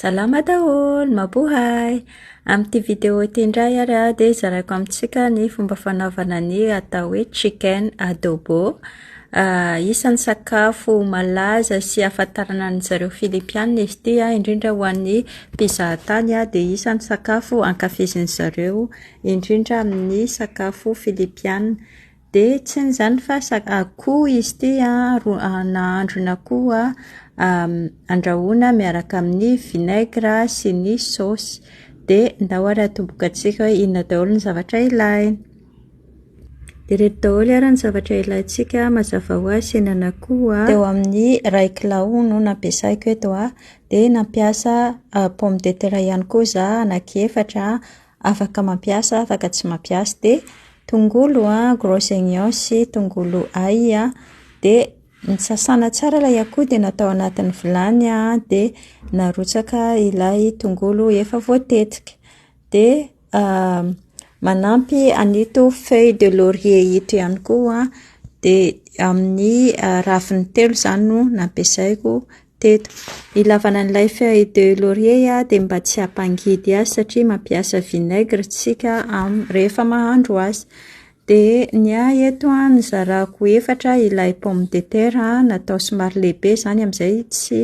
Salama daholo, mabohay! Amin'ity vidéo ity indray ary aho dia zaraiko amintsika ny fomba fanaovana ny atao hoe chicken adobo. Ah, isan'ny sakafo malaza sy ahafantarana an-dry zareo Filipiana izy ity an, indrindra ho an'ny mpizahatany an, dia isan'ny sakafo ankafizin'izareo indrindra amin'ny sakafo Filipiana. Dia tsy ny izany fa sak- akoho izy ity an, ro- nahandro ny akoho an, andrahoina miaraka amin'ny vinaigre sy ny saosy. Dia ndao ary atombokantsika hoe inona daholo ny zavatra ilaina. Dia ireto daholo ary ny zavatra ilaintsika mazava ho azy henan'akoho an. Teo amin'ny iray kilao no nampiasaiko eto an, dia nampiasa pomme de terre ihany koa izaho anaky efatra an, afaka mampiasa, afaka tsy mampiasa, de tongolo a, gros oignons sy tongolo ail a, de nosasana tsara ilay akoho de natao anatin'ny vilany a, de narotsaka ilay tongolo efa voatetika, de manampy an'ito feuille de laurier ito ihany koa aho, de amin'ny raviny telo izany no nampiasaiko teto. Ilavana an'ilay feuille de laurier dia mba tsy hampangidy azy satria mampiasa vinaigre isika rehefa mahandro azy. Dia ny ahy eto an, nozarako efatra ilay pomme de terre natao somary lehibe izany amin'izay tsy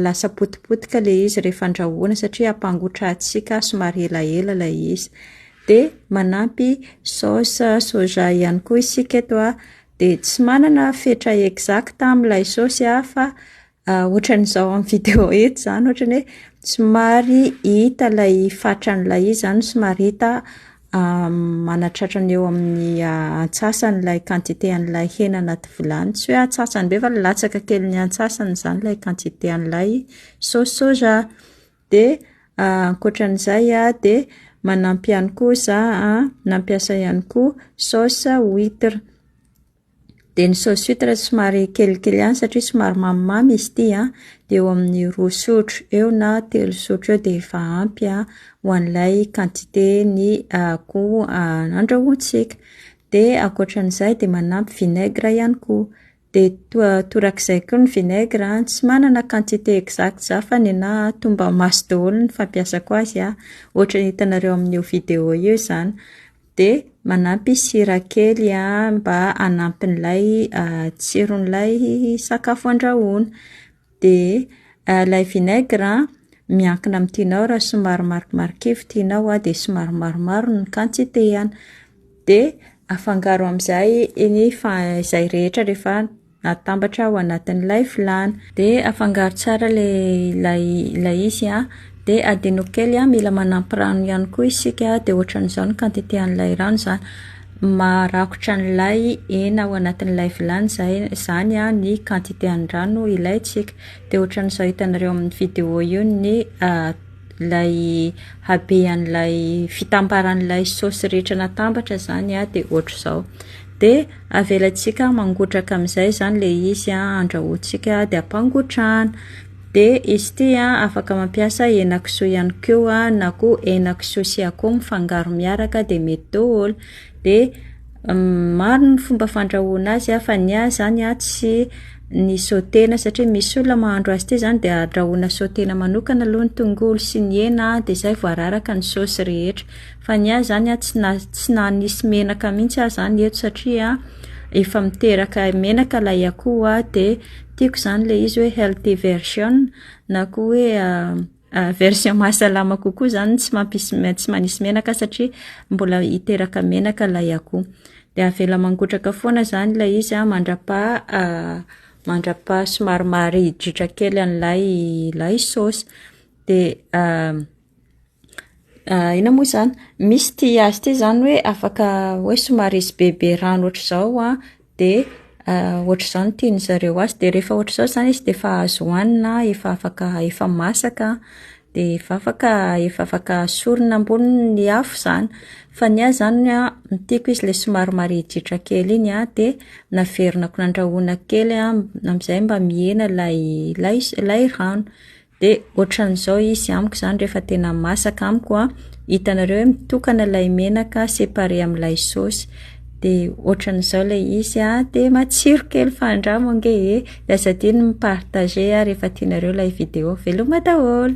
lasa potipotika ilay izy rehefa andrahoina satria hampangotrahantsika somary elaela ilay izy. Dia manampy saosy soja ihany koa isika eto an. Dia tsy manana fetra exacte aho amin'ilay saosy aho fa ohatran'izao amin'ny vidéo eto izany, ohatran'ny hoe somary hita ilay fatran'ilay izy izany, somary hita manatratra ny eo amin'ny antsasany ilay quantité an'ilay hena anaty vilany, tsy hoe antsasany be fa latsaka kelin'ny antsasany izany ilay quantité an'ilay saosy soja. Dia ankoatra an'izay dia manampy ihany koa za nampiasa ihany koa sauce huitre. Dia ny sauce huitre somary kelikely ihany satria somary mamimamy izy ity an, dia eo amin'ny roa sotro eo na telo sotro eo dia efa ampy ho an'ilay quantité ny akoho nandrahointsika. Dia ankoatra an'izay dia manampy vinaigre ihany koa. De torak'izay koa ny vinaigre an, tsy manana quantité exacte za fa nenaha toa mba maso daholo ny fampiasako azy an, ohatra ny hitanareo amin'io vidéo io izany, de manampy sira kely an mba hanampy an'ilay tsiron'ilay sakafo andrahoina. Dia ilay vinaigre an, miankina amin'ny tianao, raha somary marimarikivy tianao an, dia somary maromaro ny quantité-ny. Dia afangaro amin'izay ny fa- izay rehetra rehefa atambatra ao anatin'ilay vilany. Dia afangaro tsara ilay ilay ilay izy an. De adino kely a, mila manampy rano ihany koa isika de ohatran'izao ny quantité an'ilay rano zany, marakotra an'ilay hena ao anatin'ilay vilany zay zany a ny quantité an'ny rano ilaintsika, de ohatran'izao hitanareo amin'ny vidéo io ny ilay habehan'ilay fitambaran'ilay saosy rehetra natambatra zany a de ohatr'izao, de avelantsika mangotraka amin'izay zany le izy a, andrahointsika de ampangotrahana. DST a, afaka mampiasa henakisoa ihany koa na koa henakisoa sy akoho mifangaro miaraka dia mety daholo. Dia maro ny fomba fandrahoana azy fa ny ahy izany a tsy ny sautena satria misy olona mahandro azy ity izany dia andrahoina sautena manokana aloha ny tongolo sy ny hena dia izay vao araraka ny saosy rehetra. Fa ny ahy izany a tsy na- tsy nanisy menaka mihitsy aho izany eto satria efa miteraka menaka ilay akoho dia. Tiako izany ilay izy hoe healthy version na koa hoe version mahasalama kokoa izany tsy mampisy tsy manisy menaka satria mbola hiteraka menaka ilay akoho. Dia avela mangotraka foana izany ilay izy an, mandrapaha mandrapaha somary maharidritra kely an'ilay ilay saosy. Dia Inona moa izany? Misy ity azy ity izany hoe afaka hoe somary hisy bebe rano ohatr'izao an, dia ohatr'izao no tian-dry zareo azy. Dia rehefa ohatr'izao izany izy dia efa azo hohanina, efa afaka efa masaka, dia efa afaka efa afaka asorina ambonin'ny afo izany. Fa ny ahy izany an, ny tiako izy ilay somary marihidrihitra kely iny an, dia naverinako nandrahoina kely an, amin'izay mba mihena ilay ilay rano. De ohatran'izao izy amiko zany rehefa tena masaka amiko a, hitanareo hoe mitokana ilay menaka séparé amin'ilay saosy, de ohatran'izao ilay izy a, de matsiro kely fa andramo ange e, de aza adino ny mi-partager a rehefa tianareo ilay vidéo, veloma daholo!